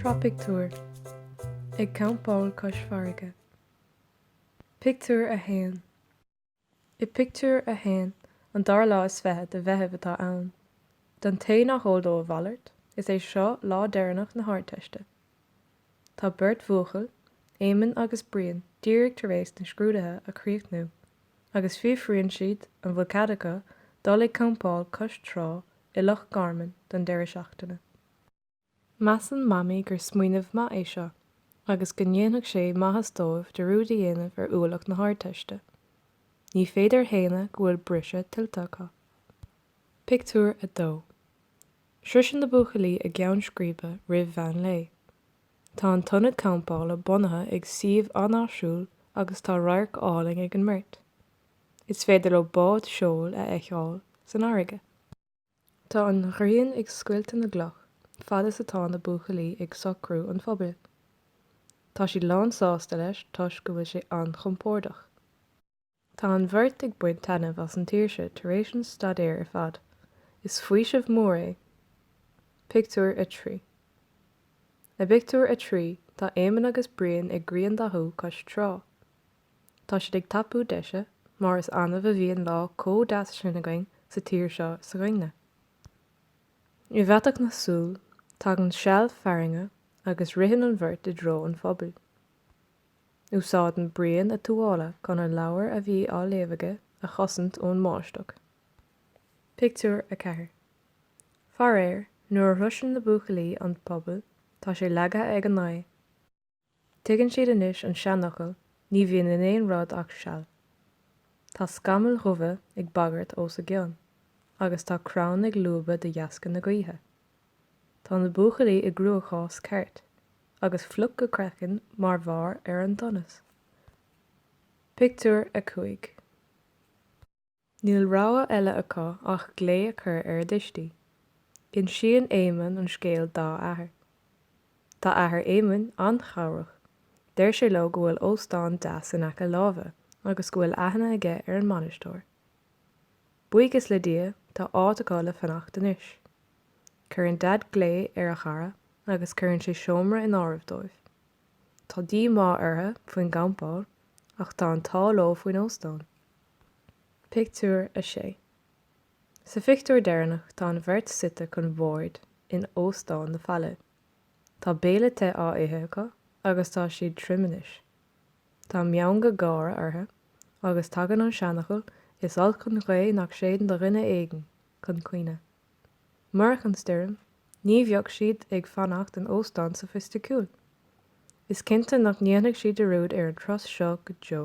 Sraith Pictiúr, Ag campáil cois farraige, Pictiúr 1 I bpictiúr a haon, an dara lá is fiche de Mheitheamh atá ann. Don té nach eol dó a mhalairt, is é seo lá deireanach na hArdteiste. Tá beirt bhuachaill, Éamonn agus Brian, díreach tar éis na scrúdaithe a chríochnú agus fiafraíonn siad an bhfuil cead acu dul ag campáil cois trá i Loch Garman don deireadh seachtaine. Measann Mamaí gur smaoineamh maith é seo agus go ndéanfadh sé maitheas dóibh dearúd a dhéanamh ar ualach na hArdteiste. Ní féidir a shéanadh go bhfuil briseadh tuillte acu. Pictiúr 2 Sroiseann na buachaillí a gceann scríbe roimh mheán lae. Tá an t-ionad campála bunaithe ag suíomh an-áisiúil agus tá radharc álainn ag an mbeirt. Is féidir leo bád seoil a fheiceáil san fharraige. Tá an ghrian ag scoilteadh na gcloch fad is atá na buachaillí ag socrú an phubaill. Tá siad lán sásta leis toisc go bhfuil sé an-chompordach. Tá an bheirt ag baint taitneamh as an tsaoirse tar éis an staidéir ar fad. Is faoiseamh mór é. Pictiúr 3 I bpictiúr a trí, tá Éamonn agus Brian ag griandathú cois trá. Tá siad ag tapú deise, mar is annamh a bhíonn lá comh deas sin againn sa tír seo s'againne. I bhfaiteadh na súl, tagann seal fearthainne agus ritheann an bheirt i dtreo an phubaill. Úsáideann Brian a tuáille chun an leabhar a bhí á léamh aige a chosaint ón mbáisteach. Pictiúr 4 Faraor, nuair a shroiseann na buachaillí an puball, tá sé leagtha ag an ngaoth. Tuigeann siad anois an seanfhocal 'ní bhíonn in aon rud ach seal'. Tá scamaill dhubha ag bagairt os a gcionn agus tá crann ag lúbadh de dheasca na gaoithe. Tá na buachaillí i gcruachás ceart, agus fliuch go craiceann mar bharr ar an donas. Pictiúr 5 Níl rogha eile acu ach glao a chur ar a dtuistí. Insíonn Éamonn an scéal dá athair. Tá athair Éamoinn an-chabhrach. Deir sé leo go bhfuil óstán deas in aice láimhe agus go bhfuil aithne aige ar an mbainisteoir. Buíochas le Dia, tá áit acu le fanacht anois. Cuireann Daid glao ar a chara agus cuireann sé seomra in áirithe dóibh. Tá díomá orthu faoin gcampáil ach tá an t-ádh leo faoin óstán. Pictiúr 6 Sa phictiúr deireanach tá an bheirt suite chun boird in Óstán na Faille. Tá béile te á ithe acu agus tá siad tirim anois. Tá meangadh gáire orthu agus tagann an seanfhocal 'Is olc an ghaoth nach séideann do dhuine éigin'. chun cuimhne. Murach an stoirm, ní bheadh siad ag fanacht in óstán sofaisticiúil. Is cinnte nach ndéanfaidh siad dearúd ar an turas seo go deo.